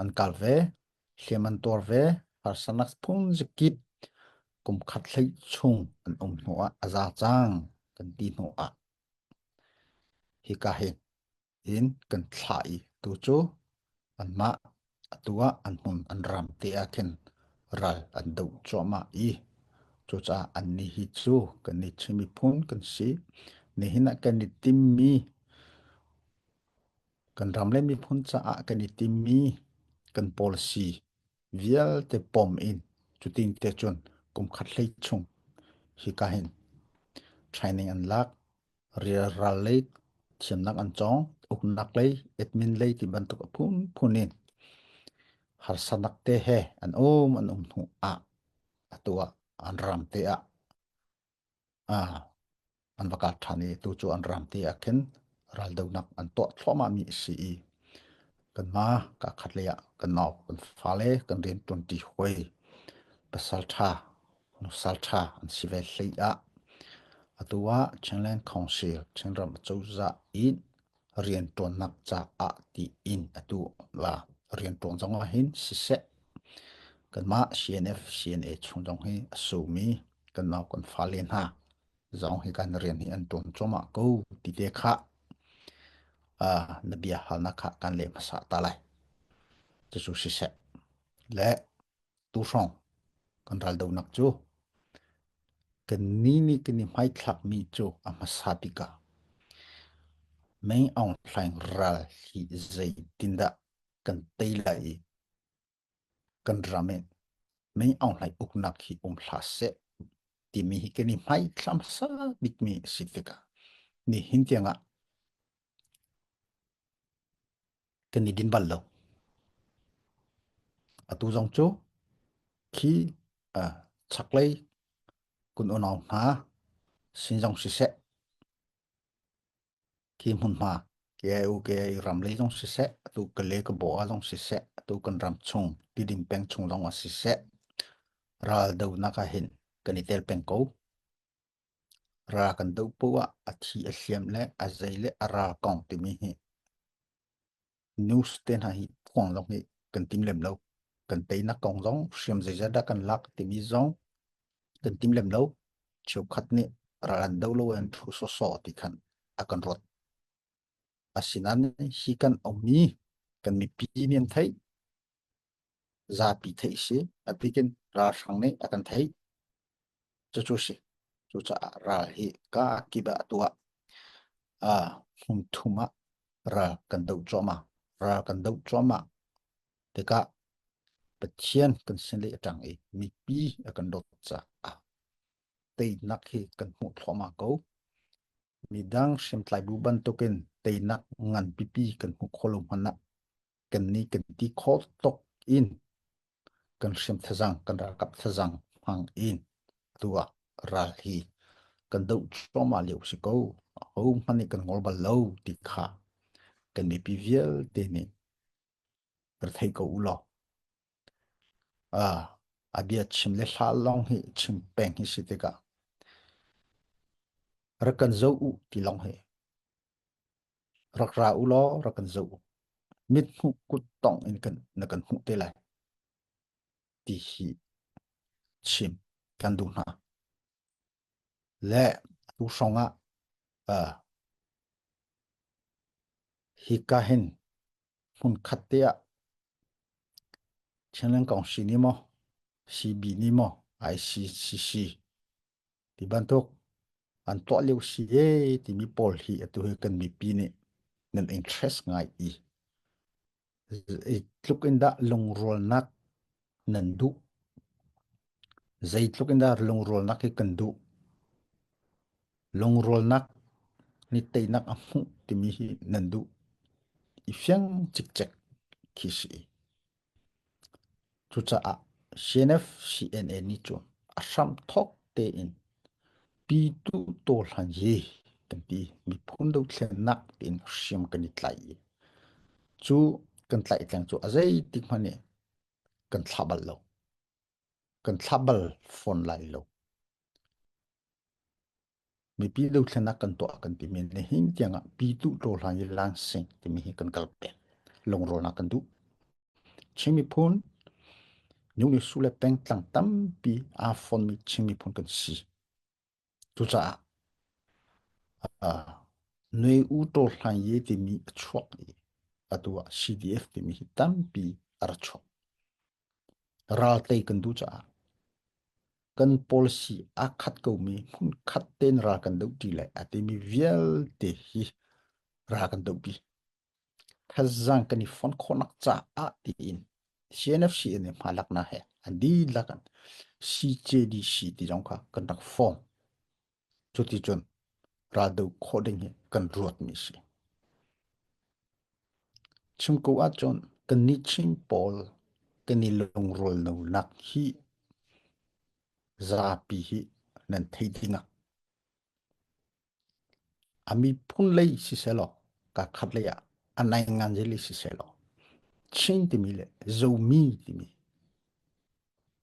an kal ve. Hliam an tuar ve. Harsanak phunzikip kum khat hlei chung an um hnu ah a za cang kan ti hnu ah. Hika hin in kan thla i tu cu an mah atu ah an hmun an ram te ah khin ral an do cuahmah i cucaah an ni hi cu kan ni chimi phun kan si. Nihin ah kan i timmi kan ram le miphun caah kan i timmi kan policy vialte pom in cutin te cun kum khat hlei chung hika hin training an lak rial ral lei thiamnak an cong uknak lei admin lei ti bantuk a phunphun in harsanak te he an um an um hnu ah atu ah an ram te ah Ah, an va kat ṭhan i tucu an ram te ah khin raldonak an tuah thluahmahmi a si i kanmah ka khatlei ah kan nau kan fale kan rian ṭuanṭi hawi pasalṭha nusalṭha an si ve hlei ah atu ah Chinland Council Chinram cozah in rianṭuannak caah tiin atu la rianṭuan zong ah hin siseh kanmah CNF CNA chung zong hi a sumi kan nau kan fale hna zong hi kan rian hi an ṭuan cuahmah ko ti te kha na bia halnak kha kan leh hmasa ta lai cucu siseh le tuhrawng kan ral donak cu kan ni ni kan i hmaithlak mi cu a hmasa tikah mei ong thlaing ral hi zei tin dah kan tei lai i kan ram e mei ong hlai uknak hi um hla se timi hi kan i hmaithlam sa bikmi a si tikah ni hin tiangah kan i din bal lo. Atu zong cu khi uh, chaklei kun unau hna sin zong siseh khi hmun hma ke ai u ke ai ram lei zong siseh atu ka le ka bo a zong siseh atu kan ram chung tidin peng chung zong a siseh ral do nak ah hin kan i tel peng ko. Ra kan doh poh ah a thi a hliam le a zei le a ra kong timi hi news te hna hi phuang zong hi kan tim lem lo. Kan teinak kong zong hriam zeizat dah kan lak timi zong kan tim lem lo. Cheukhat nih ralan do lo an thu soso ti khan a kan rot. Asinan hi kan omi kan mipi nih an thei. zapi theih si atikin ralhrang nih a kan theih cucu si cucaah ral hi ka kip ah tuah ah hmun thum ah ral kan do cuahmah ral kan do cuahmah tikah Pathian kan sin le atang i mipi a kan dawt caah teinak hi kan hmuh thluahmah ko midang hriamtlai bu bantukin teinak ngan pipi kan hmuh khawh lo hmanh ah kan ni kan ti kho tok in kan hrim thazang kan ralkap thazang hmang in tua ral hi kan do choma leu si ko ho hmani kan ngol bal lo ti kha kan ni pi vialte nih kan thei ko ulo ah abia chim le hla long hi chim peng hi si tika rakan zo u ti long hi rak ra u law rak kan zoh u. Mithmuh kut tongh in kan, na kan hmuh te lai, ti hi chim kan duh hna. Le tu hrawng ah uh, hika hin hmun khat te ah Chenleng Kong si ni maw, si bi ni maw, ICCC Ti bantuk an tuah lio si e timi pawl hi atu hi kan mipi nih nan interest ngai i tluk in dah lungrualnak nan duh zeitluk in dah lungrualnak hi kan duh lungrualnak ni teinak a hmuh timi hi nan duh i fiang cikcek khi si Cucaah CNFCNA nih cun a hramthawk tein Pyituh Taw Hlan hi kan ti miphun dothlennak tiin hriam kan i tlaih i cu kan tlaihtleng cu a zeitik hmanh nih kan thlah bal lo. Kan thlah bal fawn lai lo. mipi dothlenak kan tuah kan timi nihin tiangah pitu hlawhhlan i lansing timi hi kan kal peng lungrawnak kan duh Chin miphun New ni sule peng tlang tampi aa fonmi Chin miphun kan si cucaah uh, noi u hlai ye timi a chuak i atu ah CDF timi hi tampi a ra chuak Ral tei kan duh caah kan policy aa khat komi hmunkhat tein ral kan doh ṭi le a timi vialte hi ral kan dohpi. Thaizang kan i fon khawhnak caah tiin CNFC nih hma laknak he an dihlak in CJDC ti zong kha kan rak form. Cuticun raldoh khawh ding hi kan ruatmi a si. Chim ko ahcun kannih Chin pawl kan i lungrualnonak hi zapi hi nan thei ding ah a miphun lei sisehlaw kaakhat lei ah a naingan lei sisehlaw Chin timi le Zomi timi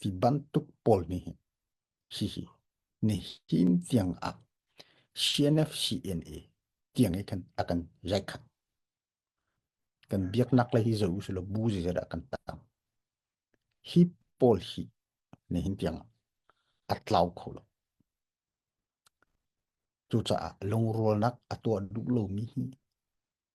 Hi bantuk pawl nih hihi nihin tiang ah CNFCNA tiang i a kan rekhanh. Kan biaknak le hi zo usulaw bu zizara kan tam. Hi pawl hi nihin tiang a tlau kho lo. Cucaah lungrualnak a tuah duh lomi hi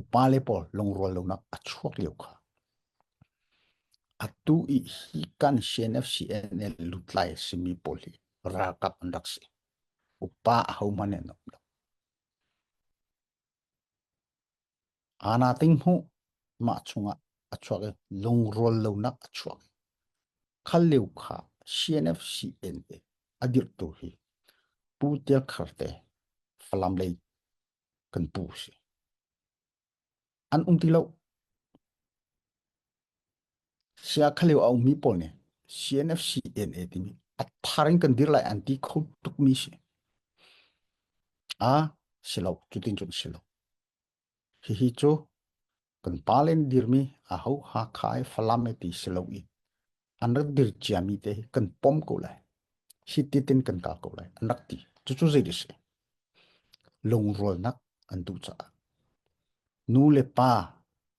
Upale pawl lungrual lonak a chuak lio kha atu i hi kan CNFCNL lutlai a simi pawl hi ralkap an rak si. Upa a hohmanh an um lo. Ana ting hmu mah chungah a chuak i lungrual lonak a chuak. Khal leu kha CNFCNL a dirtu hi Pu Tial Kharte Falam lei kan pu si. An um ti lo. Sia khalio a ummi pawl nih CNFC DNA timi a thar in kan dir lai an ti kho tukmi si. A silo, cutin cun silo. Hihi cu kan pa le an dirmi aho Hakha i Falam i ti si lo i an rak dir ciami te hi kan pom ko lai hiti tin kan kal ko lai an rak ti cucu zei a si lungrualnak an duh caah nu le pa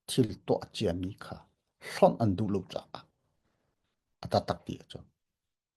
thil tuah ciami kha hlonh an duh lo caah a tatak ti a cu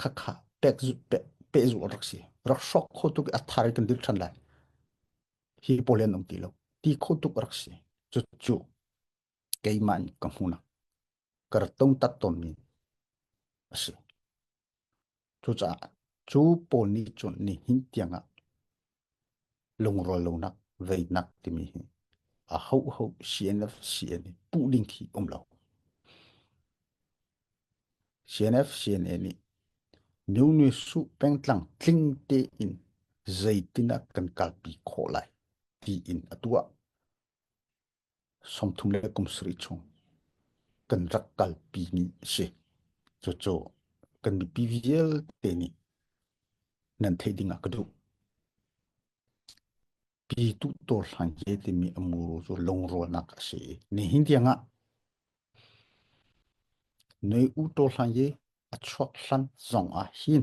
khakha pehzul rak si rak sok kho tuk a thar kan dil than lai hi polen om ti lo ti kho tuk rak si chu chu keimah ka hmunak kar tong tat ton mi asi chu cha chu pol ni chun ni hin tianga Lungrual lonak, veinak timi hi a hoho CNF, CNA puh ding khi um lo. CNF, CNA nih new nu su pengtlang tling te in zeitin ah kan kalpi khawh lai tiin a tuah. sawmthum le kum sarih chung kan rak kalpi ni a si. Cucu kan mipi vialte nih nan theih ding ah ka duh. Pi tu dawr hlan he timi amuru cu lungrualnak a si. Ni hin tiang ah noi u to hlan ye a chuak hlan zong ah hin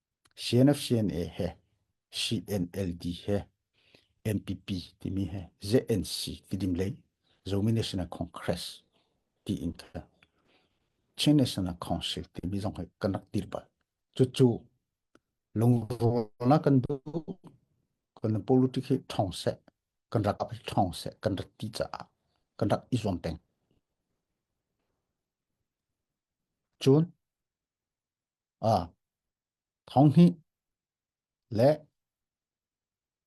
CNFCNA he CNLD he NPP timi he ZNC tidim lei Zomi National Congress ti in ka Chin National Council timi zong he kan rak tir bal cu cu lungrawlnak kan duh kan politic hi thong se kan rak ap thong se kan rak ti caah kan rak i zuam teng cun ah thonghnih le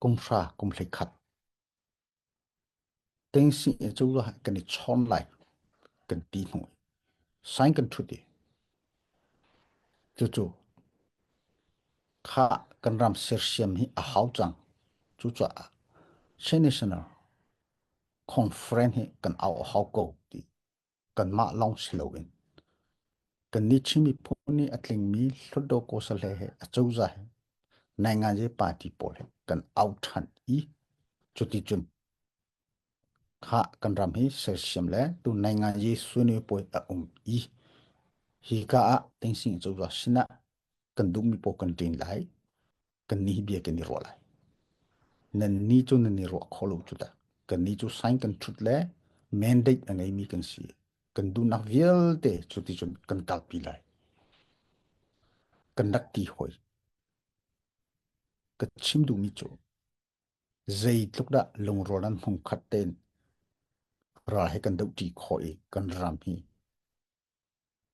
kumhra kumhli khat ting si cu lo kan i chon lai kan ti hnu sign kan thut i cucu kha kan ram sersiam hi a hau cang cu caah senational conference hi kan au hau ko ti kanmah lawng si loin kannih Chin miphun nih a tlingmi Hluttaw Kosale he acozah he Nainganze party pawl he kan au ṭhan i cuticun kha kan ram hi sersiam le tu Nainganze sunwe puai a um i hi ka ah Tingsing cozah sinah kan duhmi pawl kan ṭin lai kan ni bia kan i ruah lai nan ni cu nan i ruah kho lo cu da kan ni cu sign kan thut le mandate a ngei mi kan si kan dunak vialte cu ti cun kan kalpi lai kan rak ti hoi ka chim duhmi cu zeitluk dah lungrual nan hmung khat ten ra he kan doh ṭi khawh i kan ram hi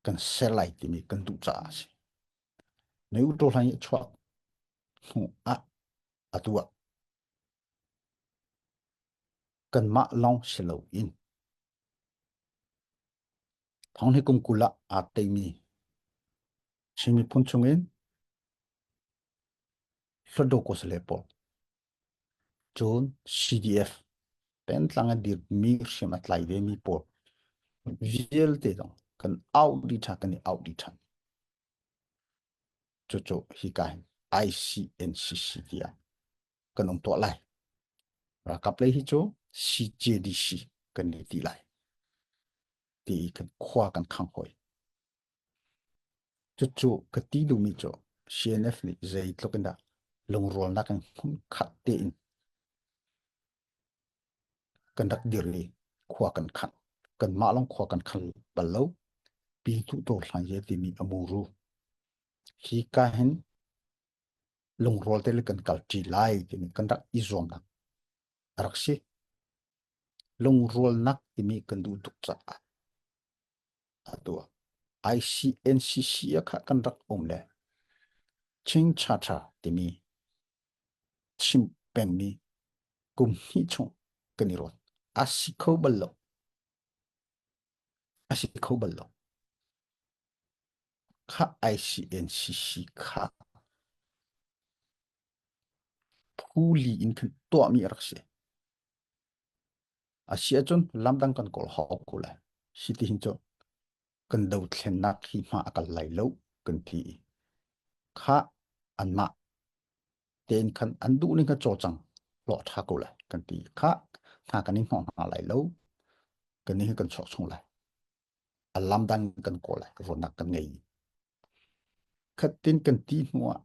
kan ser lai timi kan duh caah a si. Na uṭaw hlan i a chuak hnu ah a tuah. Kanmah lawng si lo in thong hi kumkul ah aa teimi Chin miphun chungin Hlodokos le pawl Cun CDF pengtlang a dirmi hriam a tlai vemi pawl vialte zong kan auh dih ṭhan, kan i auh dih ṭhan. Cucu hika hin ICNCC tiah kan um tuah lai. Ralkap lei hi cu CJDC kan ni ti lai. Ti kan khua kan khang hoi. Cucu ka ti duhmi cu CNF nih zeitluk in dah lungrualnak in hnamkhat tein kan rak dir i khua kan khang. Kanmah lawng khua kan khang bal lo. Pi Hnuhdawr Hlang Ye timi a muru. Hi ka hin lungrual te le kan kal ṭi lai timi kan rak i zuamnak a rak si. Lungrualnak timi kan duh tuk caah Atu ah ICNCC ah kha kan rak um le Chin Chacha timi chim pengmi kum hnih chung kan i ruat. A si kho bal lo. A si kho bal lo. Kha ICNCC kha phuli in kan tuahmi a rak si. A si ahcun lamdang kan kawl hau ko lai. Hi ti hin cu kan dothlennak hi hma a kal lai lo kan ti i kha anmah tein khan an duh ning kha cawcang hlawh ṭha ko lai kan ti kha hna kan i hnawh hna lai lo kan ni hi kan chuak chung lai a lamdang kan kawl lai ruahnak kan ngei Khatten kan ti hnuah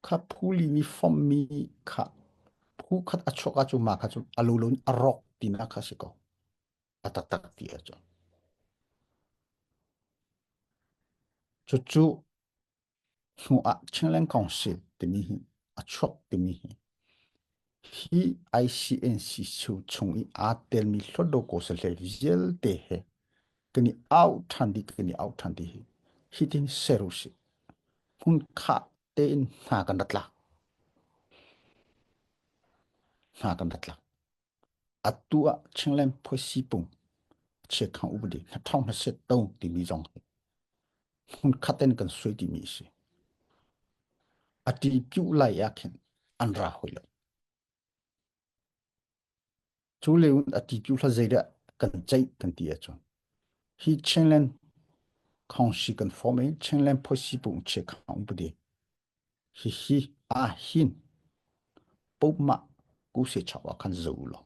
kha phuli nih fommi kha phu khat a chuak ahcun mah kha cu a lo loin a rawk tinak kha si ko. A taktak ti a cu. Cucu hnuah Chingleng Council timi hi a chuak timi hi Hi ICNCC chung i aa telmi hlawtlo kosahhlei vialte he kan i auh ṭhan dih, kan i auh ṭhan dih hi. Hitin ser u sih. Hmunkhah tein hna kan rak tla. Hna kan rak tla. Atu ah Chingleng Phuai Sipung, Chiakhang Upadi, hna thawng hna set to timi zong hi hmunkhat in kan suai timi a si a ti kiuh lai ah khin an ra hoi lo cu le a ti kiuh hla zeidah kan ceih kan ti ahcun hi chinland kong si kan form in chinland phoisi pung che khang budi Hihi aa hin pomah ku se chau ah khan zo law.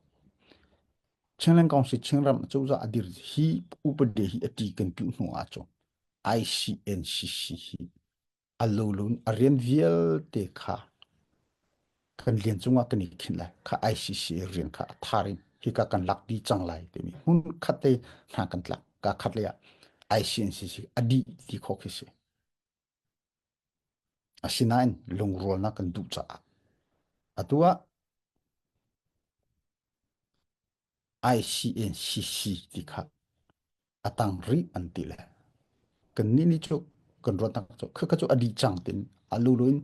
Chenglen kong si chengram cozah adir hi upade hi ati kan tu hnu a cu ICNCC hi alolun arian vialte kha kan lian cungah kan i khin lai kha ICC rian kha atharin hi ka kan lak di cang lai timi hun khatte hna kan tlak ka khatle ah ICNCC adi ti kho khi si Asinain lungrualnak kan duh caah atu ah ICACC ti kha a tang rih an ti le kannih nih cu kan ruahnak cu khakha cu a dih cang tin a lulu in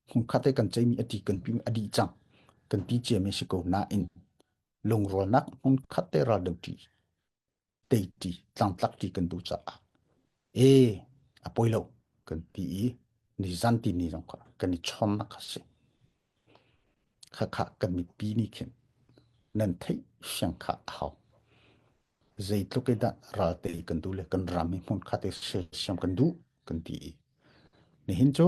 hmun khat i kan ceimi a ti kan pimi a dih cang kan ti ciami a si ko nain lungrualnak hmun khat te ral deuh ṭi teiti tlangtlak ti kan duh caah e a poi lo kan ti i ni zan ti ni zong kha kan i chom na kha si kha kha kan mi pi ni khin nan thei siang kha a hau zeitluk e dah ral te kan du le kan ram hi hmun kha te siam kan du kan ti i nihin cu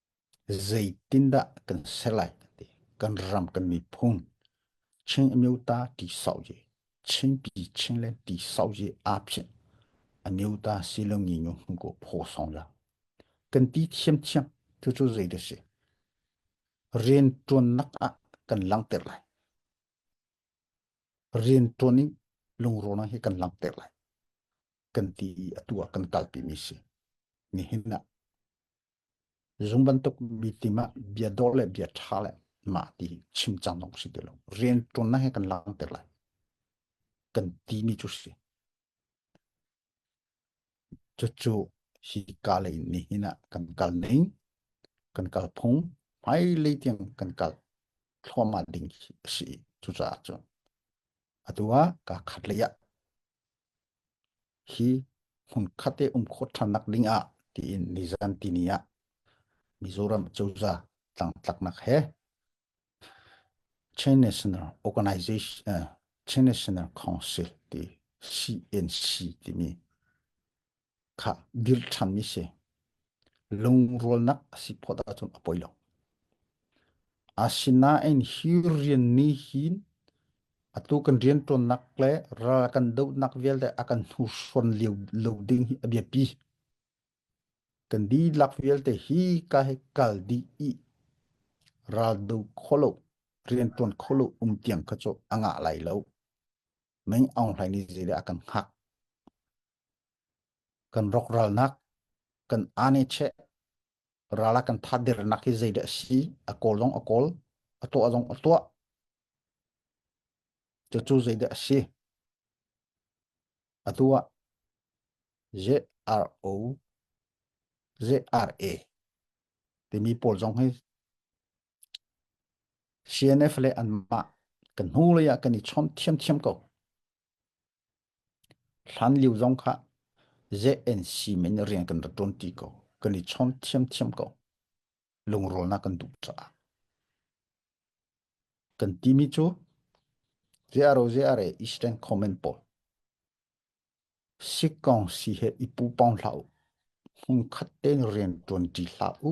Zeitindah kan ser lai ti kan ram kan miphun Chin amyo ta ti sau je Chinpi Chin le ti sau je aa phin amyo ta si lo ngi ngu hmu ko pho song la kan ti thiam thiam tu cu zei da si rian tuan nak ah kan langter lai rian tuan in lungro na hi kan langter lai kan ti atu ah kan kalpi mi si nihin ah Zung bantuk mi tim ah bia dor le bia tha le mah ti chim cang dong si ti lo. Rian tuan na he kan lang te lai. Kan ti ni chu si. Cu cu hi ka le ni hin ah kan kal ning, kan kal phung, mai le tiang kan kal thluama ding si cu ca cu. Atua ka khat le ya. hi hmunkhat i um khawh ṭhan nak ding ah tiin nizan tini ah Mizoram cozah tlangtlaknak he Chin National Organization uh, Chin National Council ti CNC timi kha dil ṭhan mi si Lungrualnak a si phawt ahcun a poi lo. Asinain hi rian nih hin atu kan rianṭuannak le ral kan dohnak vialte a kan hnursuan lio lo ding hi a biapi. Kan dihlak vialte hi ka he kal dih i ral do kho lo, rianṭuan kho lo um tiang kha cu a ngah lai lo. Meng aung hlai ni zile a kan hngak. kan rak ralnak kan ane che rala kan tha dernak hi zei de si a kawl zong a kawl a tuah zong a tuah cu cu zei de a si a tua z r o z r a timi pawl zong hi CNF le anmah kan hnu lei ah kan i chom thiamthiam ko Hlanlio zong kha zeih in siim in rian kan rak ṭuan ṭi ko. Kan i chawn ṭhiamṭhiam ko. Lungrawlnak kan duh caah. Kan timi cu ziaro ziare Eastern comment pawl. Si kong si he i pu pong hlah u. Hung khat tein rian ṭuan ṭi hlah u.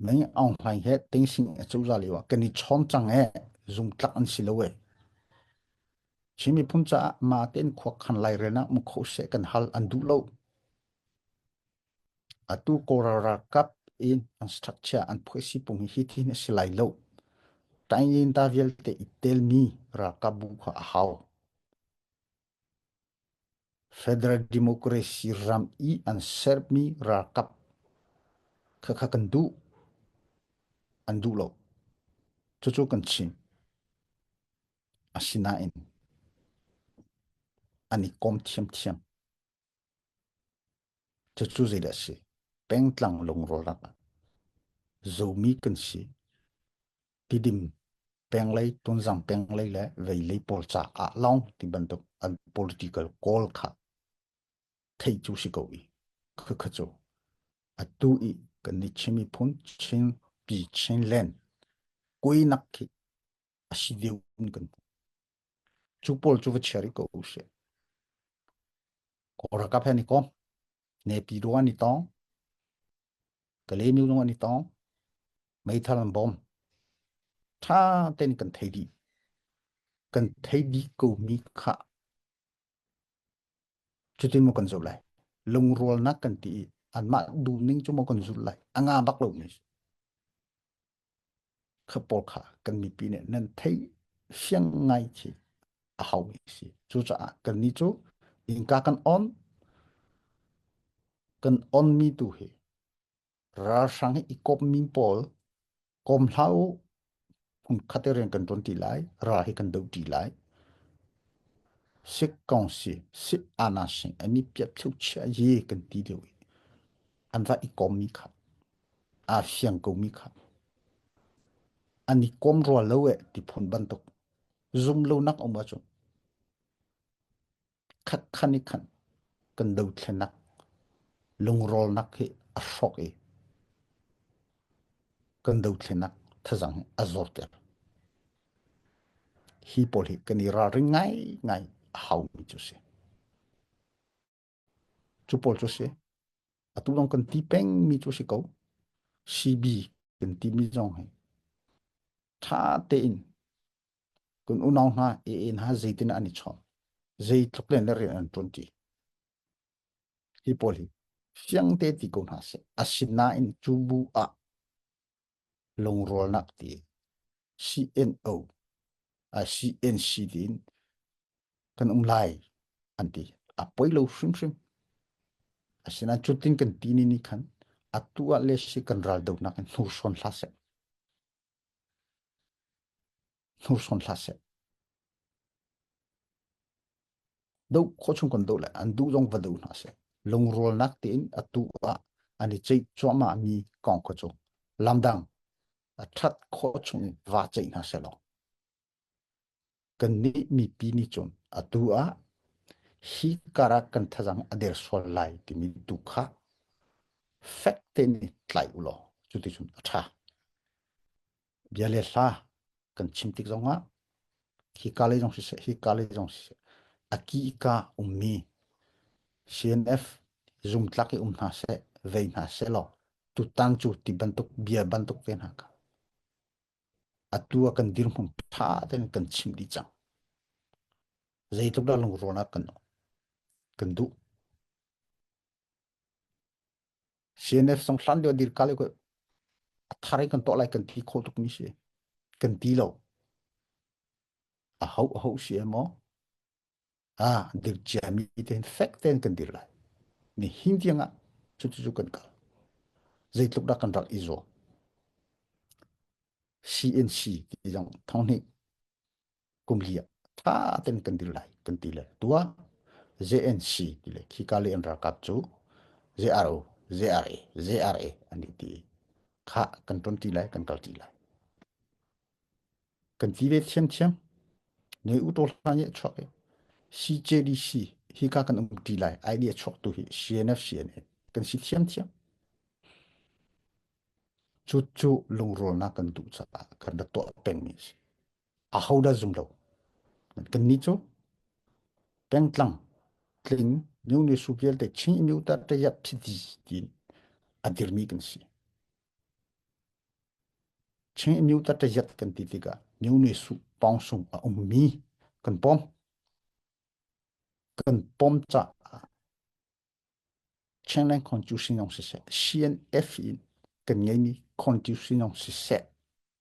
Nai Aung Hlaing he tengsing a cozah lio ah kan i chawm cang e zungtlak an si lo e. Chin miphun caah ma tein khua khan lai renak mu kho se kan hal an duh lo. Atu Kawlral ralkap in an structure an phoisi pung hi thi na si lai lo. Tain da vialte i tel mi ralkap bu kha a hau. Federal Democracy ram i an sermi ralkap kha kha kan duh. An duh lo. Cucu kan chim. Asinain an i kom thiamthiam. Cucu zeidah a si? Pengtlang lungrawlak ah zomi kan si. tidim penglei tunzang penglei le veilei pawl caah long ti bantuk an political goal kha thei cu si ko i khakha cu atu i kan ni chimi phun chin pi chin len kui nak khi asi deun kan chu pol chu va cheri ko se ko ra ka phen ko ne pi do ni tong ka le nu lung an i tong meithal an bom ṭha tein kan thei dih kan thei dih ko mi kha cutin mo kan zulh lai lungrualnak kan ti i anmah duhning cu mo kan zulh lai a nga bak lo mi kha pawl kha kan mipi nih nan thei fiang ngai khi a hau mi si cucaah kan ni cu innka kan on kan on mi tu hi ralhrang i kawp mi pawl kom hlau hung khate rian kan tuan ti lai ra hi kan do ti lai Sikh Council Sikh Ana Singh ani piat thuk chia ye kan ti deu an ra i kom mi kha aa fiang komi kha. An i kom rua lo e ti phun bantuk. Zum lonak um ahcun. Khat khan i khan kan dothlenak lungrolnak hi a hrok i kan dothlenak thazang a zor ter. Hi pawl hi kan i ralring ngai ngai a hau mi cu si. Cu pawl cu a si. Atu lawng kan ti pengmi cu a si ko. CB kan timi zong hi ṭha tein kan unau hna, ee hna zeitin ah an i chawm, zeitluk len le rian an ṭuanṭi. Hi pawl hi fiang te ti ko hna seh. Asinain cu bu ah Lungrawlnak ti CNO, CNC tiin kan um lai an ti. A poi lo hrimhrim. Asinain cutin kan ti ni nih khan atu ah le si kan ral donak in hnursawn hla seh. hnursawn hlah seh. Do khawchung kon do le an du zong va do hna seh. Lungrualnak tein atu ah an i ceih cuama mi kong ko cu. Lamdang, a that khawchung va ceih hna seh lo. Kan nih mi pi ni cun atu ah hi kara kan thazang ader sual lai timi tu kha fek te ni tlai ulo cuti cun a tha. bia le hla kan chim tik zongah hi ka lei zong siseh hi ka lei zong siseh aki ka ummi CNF zumtlak i um hna seh vei hna seh law tutan cu ti bantuk bia bantuk te hna ka atu a kan dirhmung tha ten kan chim dih cang zeitluk dah lungruan ah kan kan duh CNF song hlan lio dir kal ko a thar i kan to lai kan thi kho tuk mi si kan ti lo a hau a hau si emaw a dir chia mi ten fek ten kan dir lai ni hin tiang ah chu chu kan kal zei tluk da kan rak i zo CNC ti jang thong ni kum hi tha tem kan dil lai kan ti le tua JNC ti le khi ka le an ralkap cu JRO JRA JRA an i ti kha kan ton ti lai kan kal ti lai kan ti ve thiam thiam ne u to hlan ye chok CJDC hi ka kan um ti lai idea chok tu hi CNFC ne kan si thiam thiam chu chu lungrol na kan tu cha kan da to peng mi si ahodah zum lo kanni cu pengtlang tling new ne su vialte chin inu ta te ya phiti ti adirmi kan si chin inu ta te yat kan ti tika new ne su pong sung a ummi kan pom kan pom cha Changlan constitution yong si se CNF in kan ngei mi constitution yong si se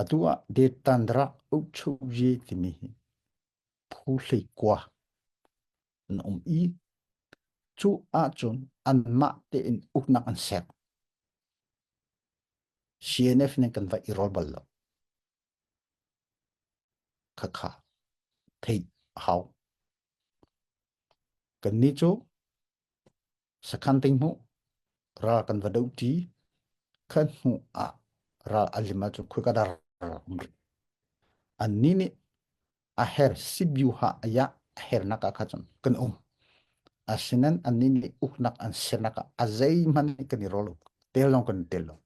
Atu ah detan rak ukchukji timi hi phu hleikua an um i cu ahcun anmah tein uknak an sek. CNF nih kan va i rol bal lo. Khakha theih hau. Kannih cu Sakhan ting hmuh ral kan va do ti khan hmuh ah ral alim ah cu khoi ka dar umri an ni nih a her sibyu ha aya a her nak ah cun kan um asinen an ni nih uk nak an ser nak ah azei man kan i rol tel long kan tel long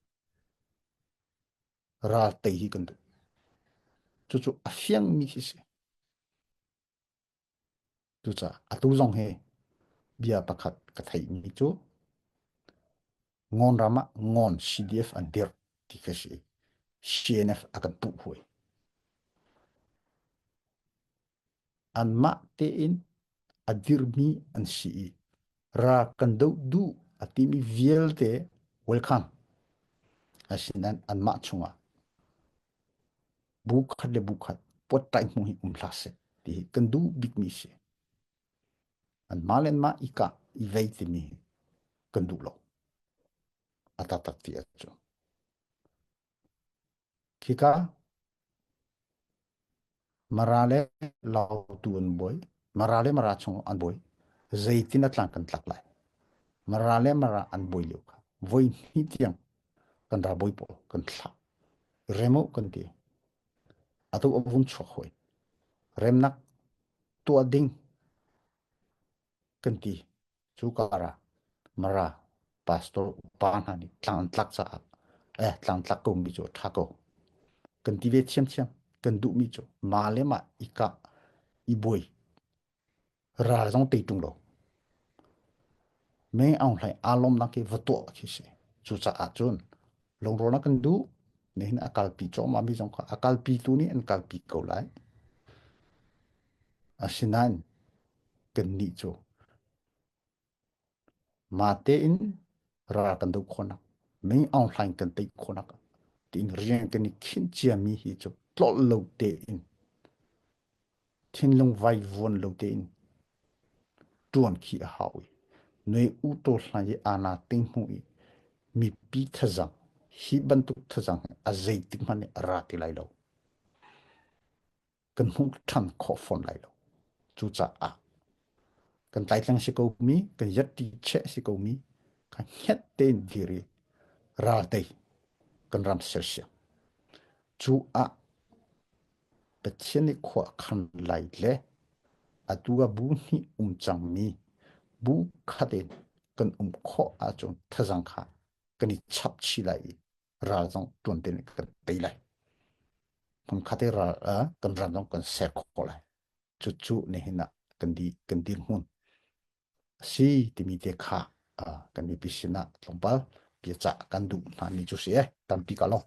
ral tei hi kan du cu cu a fiang mi hi si Cucaah atu zong hi bia pakhat ka theihmi cu Ngon ram ah Ngon CDF an dirh ti ka si. CNF a kan puh hoi. Anmah tein a dirmi an si i ra kan doh duh a timi vialte welcome. Asinan anmah chungah bu khat le bu khat pot tai hmu hi um hla se ti hi kan du bik mi si an ma len ma i ka i vei ti mi kan du lo ata tak ti achu khika mara le lau tu an boi mara le mara chung an boi zeitin atlang kan tlak lai mara le mara an boi liu kha voi ni tiang kan dabawi pawl kan thlah remo kan ti atu a vung chuak hoi remnak tuah ding kan ti cu kara mara pastor upa hna nih tlang tlak caah eh tlang tlak ko mi cu tha ko kan ti ve thiam thiam kan duh mi cu ma le ma i ka i boi Ral zong tei ṭung lo. Me Aung Hlaing aa lawmnak hi va tuah khi si. Cucaah cun lungrualnak kan duh. Nihin a kalpi cuahmahmi zong kha a kalpi tu nih an kalpi ko lai. Asinain kannih cu ma tein ra kan do khonak ning aung hlaing kan tei khonak tiin riang kan i khin ciami hi cu tlol lo te in thinlung vai vuan lo te in tuan khi a hau i noi u to hlai i ana ting hmu i mi pi thazang hi bantuk thazang a zeitik hmanh ra ti lai lo kan hmuh ṭhan khawh fawn lai lo. Cucaah kan tlaitlang si ko mi, kan yatti cheh si ko mi, ka hnet tein diri ralte kan ram sersiam. Cu ah Pathian i khua khan lai le atu a bu hnih um cang mi bu khat in kan um khawh ahcun thazang kha kan i chap chih lai i ral zong tuan tin kan tei lai hmang khat ral kan ram zong kan ser khawh lai cu cu ne hin kan di kan di hmun si timi te kha kan mi pisin tlawmpal pia ca kan duh hna ni chu si e tampi ka long